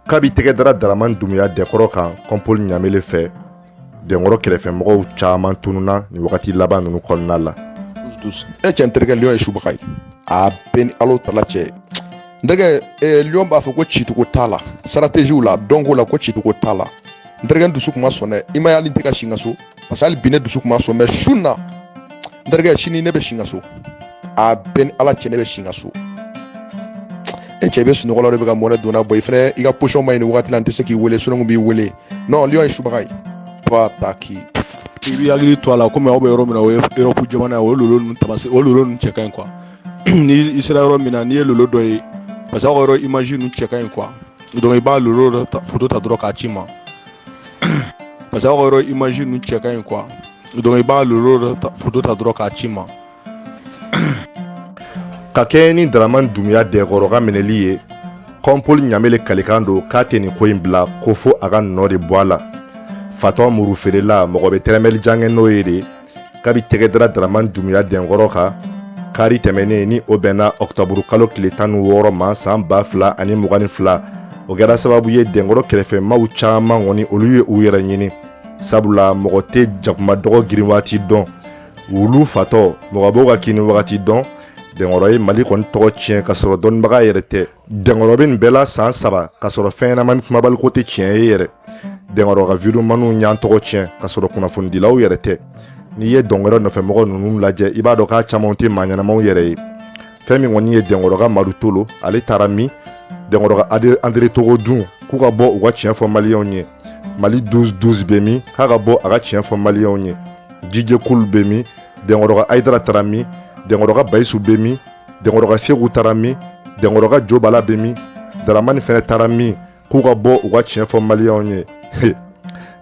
kabi tɛgɛ dara daraman dumuya dɛnkɔrɔ kan kɔnpoli ɲamele fɛ dɛnkɔrɔ kɛrɛfɛmɔgɔw caman tununna nin wagati laban ninnu kɔnɔna la e cɛ n terikɛ liyɔn ye subaga ye a bɛ n ni alahu tala cɛ n terikɛ eh, liyɔn b'a fɔ ko cicogo t'a la sarateziw la dɔnko la ko cicogo t'a la n terikɛ dusu kuma sɔn dɛ i ma y'ale tɛ ka si n ka so parce que hali bi ne dusu kuma so mɛ su na n terikɛ sini ne bɛ si n ka so a bɛ n ni ala cɛ ne bɛ si n ka so e cɛ bɛ sunɔgɔ la de bɛ ka mɔnɛ donna bɔ i fɛnɛ i ka posɔn man ɲi nin wagati la n tɛ se k'i wele sunɔgɔ b'i wele non liyɔn ye subaga ye ba ta k'i i b'i hakili to a la komi aw bɛ yɔrɔ min na o ye erɔpu jamana ye o lolo ninnu tamase o lolo ninnu cɛ ka ɲi kuwa ni i sera yɔrɔ min na n'i ye lolo dɔ ye parce que aw ka yɔrɔ imazi ninnu cɛ ka ɲi kuwa donc i b'a lolo dɔ ta foto ta dɔrɔn k'a ci n ma parce que aw ka yɔrɔ image ninnu cɛ ka ɲi quoi donc i b'a lolo dɔ foto ta dɔrɔn k'a ci n ma ka kɛɲɛ ni daraman dumuya dɛnkɔrɔ ka minɛli ye kɔnpoli ɲamele kalikan don k'a tɛ nin ko in bila ko fo a ka nɔ de bɔ a la fatɔ muru feerela mɔgɔ bɛ tɛrɛmɛli jan kɛ n'o ye de kabi tɛgɛ dara daraman dumuya dɛnkɔrɔ kan kari tɛmɛnen ni o bɛnna ɔkutɔburu kalo tile tan ni wɔɔrɔ ma san ba fila ani mugan ni fila o kɛra sababu ye dɛnkɔrɔ kɛrɛfɛ maaw caman kɔni olu ye u yɛrɛ ɲini sabula mɔgɔ tɛ jakuma dɔgɔ girin wagati dɔn wulu fatɔ mɔgɔ b'o ka kinni wagati dɔn dɛnkɔrɔ ye mali kɔni tɔgɔ tiɲɛ k'a sɔrɔ dɔnnibaga yɛrɛ tɛ dɛnkɔrɔ bɛ nin bɛɛ la san saba k'a sɔrɔ fɛn ɲɛnama ni kumabaliko tɛ tiɲɛ ye yɛrɛ dɛnkɔrɔ ka videomaniw y'an tɔgɔ tiɲɛ k'a sɔrɔ kunnafonidilaw yɛrɛ tɛ n'i ye dɛnkɔrɔ nɔfɛmɔgɔ ninnu lajɛ i b'a dɔn k'a camanw tɛ maa ɲɛnamaw yɛrɛ ye fɛn min kɔni ye dɛnkɔrɔ ka madu tolo ale taara min dɛnkɔrɔ ka andre togo dun k'u ka bɔ u ka tiɲɛ fɔ maliyɛnw ye mali 12 12 bɛ min k'a ka bɔ a ka tiɲɛ fɔ maliyɛnw ye jijekulu bɛ min dɛnkɔrɔ ka ayidara taara min dɛnkɔrɔ ka bayisu bɛ min dɛnkɔrɔ ka segu taara min dɛnkɔrɔ ka jo bala bɛ min daramani fɛnɛ taara min k'u ka bɔ u ka tiɲɛ fɔ maliyɛnw ye n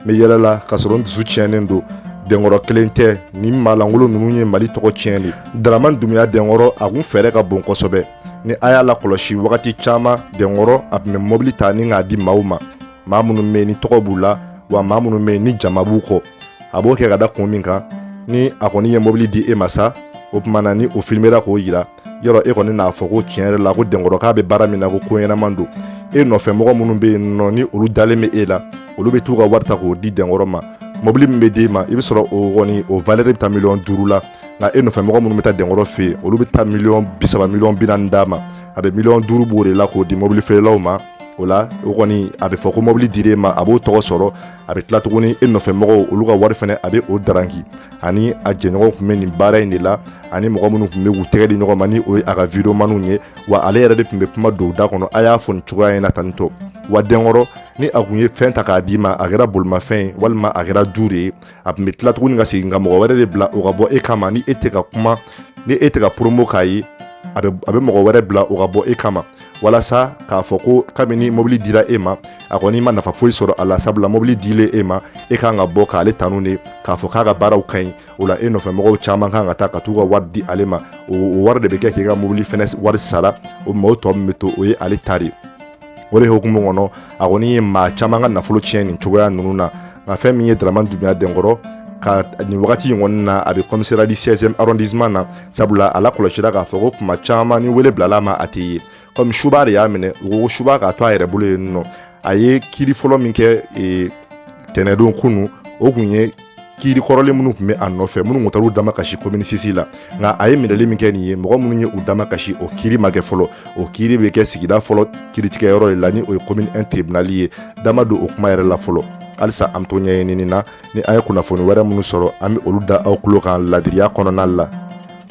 bɛ yɛlɛ la k'a sɔrɔ n dusu tiɲɛnen don dɛnkɔrɔ kelen tɛ nin maa lankolon ninnu ye mali tɔgɔ tiɲɛ de daramani dumuya dɛnkɔrɔ a kun fɛɛrɛ ka bon kosɛbɛ ni a y'a lakɔlɔsi wagati caman dɛnkɔrɔ a tun bɛ mɔbili ta ni k'a di maaw ma maa minnu bɛ ni tɔgɔ b'u la wa maa minnu bɛ ni jama b'u kɔ a b'o kɛ ka da kun min kan ni a kɔni ye mobili di e ma sa o tuma na ni o filimera k'o yira yɔrɔ e kɔni n'a fɔ ko tiɲɛ yɛrɛ la ko denkɔrɔ k'a bɛ baara min na ko ko ɲɛnaman don e nɔfɛ mɔgɔ minnu bɛ yen nɔ ni olu dalen bɛ e la olu bɛ t'u ka wari ta k'o di denkɔrɔ ma mobili min bɛ d'e ma i bɛ sɔrɔ o kɔni o valɛri bɛ taa miliyɔn duuru la nka e nɔfɛ mɔgɔ minnu bɛ taa denkɔrɔ fɛ yen olu bɛ taa miliyɔn bi saba miliyɔn bi naani d'a ma a bɛ miliyɔn duuru bɔ o de la k'o di mobili feerelaw ma o la o kɔni a bɛ fɔ ko mobili dira e ma a b'o tɔgɔ sɔrɔ a bɛ tila tuguni e nɔfɛ mɔgɔw olu ka wari fana a bɛ o daranki ani a jɛɲɔgɔn tun bɛ nin baara in de la ani mɔgɔ minnu tun bɛ k'u tɛgɛ di ɲɔgɔn ma ni o ye a ka videomaniw ye wa ale yɛrɛ de tun bɛ kuma don da kɔnɔ a y'a fɔ nin cogoya in na tan nɔ wa denkɔrɔ ni a tun ye fɛn ta k'a d'i ma a kɛra bolimafɛn ye walima a kɛra du de ye a tun bɛ tila tuguni ka segin ka mɔgɔ wɛrɛ de bila o ka bɔ e kama ni e tɛ ka kuma ni e tɛ ka promo k'a ye a bɛ mɔgɔ wɛrɛ bila o ka bɔ e kama walasa k'a fɔ ko kabini mobili dira e ma a kɔni ma nafa foyi sɔrɔ a la sabula mobili dilen e ma e kan ka bɔ k'ale tanu de k'a fɔ k'a ka baaraw ka ɲi o la e nɔfɛ mɔgɔw caman kan ka taa ka t'u ka wari di ale ma o wari de bɛ kɛ k'i ka mobili fɛnɛ wari sara o ma o tɔ min bɛ to o ye ale ta de o de hukumu kɔnɔ a kɔni ye maa caman ka nafolo tiɲɛ nin cogoya ninnu na nka fɛn min ye dramani dunya denkɔrɔ ka nin wagati in kɔni na a bɛ commissariat du sixième arrondissement na sabula a lakɔlɔsira k'a fɔ ko kuma caman ni wele bilala a ma a tɛ ye kɔmi suba de y'a minɛ u ko suba k'a to a yɛrɛ bolo yen nɔ a ye kiri fɔlɔ min kɛ e, tɛnɛdon kunun o tun ye kiri kɔrɔlen minnu tun bɛ a nɔfɛ minnu tun taar'u damakasi komini sisi la nka a ye minɛli min kɛ nin ye mɔgɔ minnu ye u damakasi o kiri ma kɛ fɔlɔ o kiri bɛ kɛ sigida fɔlɔ kiritigɛyɔrɔ de la ni o ye komini un tribunali ye da ma don o kuma yɛrɛ la fɔlɔ halisa an to ɲɛɲinini na ni an ye kunnafoni wɛrɛ minnu sɔrɔ an bɛ olu da aw tulo kan ladiriya kɔnɔna la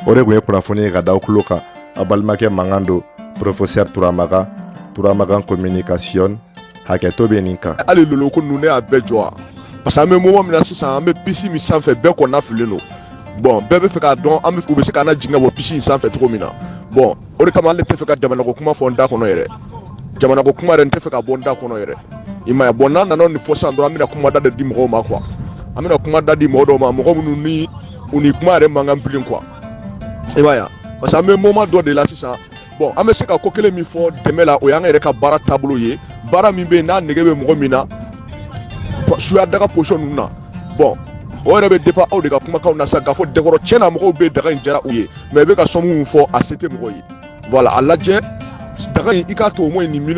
o de tun ye kunnafoni ye ka da aw tulo kan a balimakɛ mankan don professeur turamagan turamagan communication hakɛto bɛ nin kan hali lolo ko ninnu ne y'a bɛɛ jɔ wa parce que an bɛ moment min na sisan an bɛ bisi min sanfɛ bɛɛ kɔnɔnafililen don bɔn bɛɛ bɛ fɛ k'a dɔn an u bɛ se k'an jigin ka bɔ bisi in sanfɛ cogo min na bɔn o de kama hali n tɛ fɛ ka jamanako kuma fɔ n da kɔnɔ yɛrɛ jamanako kuma yɛrɛ n tɛ fɛ ka bɔ n da kɔnɔ yɛrɛ i ma bɔn n'an nana nin fɔ san dɔrɔn an bɛna kuma da de di mɔgɔw ma quoi an bɛna kuma da di mɔgɔ dɔw ma mɔgɔ minnu ni u ni kuma yɛrɛ man kan bilen quoi i b'a yan parce que an bɛ moment dɔ de la sisan bɔn an bɛ se ka ko kelen min fɔ dɛmɛ la o y'an yɛrɛ ka baara taabolo ye baara min bɛ yen n'a nege bɛ mɔgɔ min na suya daga posɔn ninnu na bɔn o yɛrɛ bɛ dépend aw de ka kumakanw na sa k'a fɔ denkɔrɔ cɛ na mɔgɔw bɛɛ daga in diyara u ye mais i bɛ ka sɔmu min fɔ a se tɛ mɔgɔ ye voilà a lajɛ daga in i k'a to o mɔ nin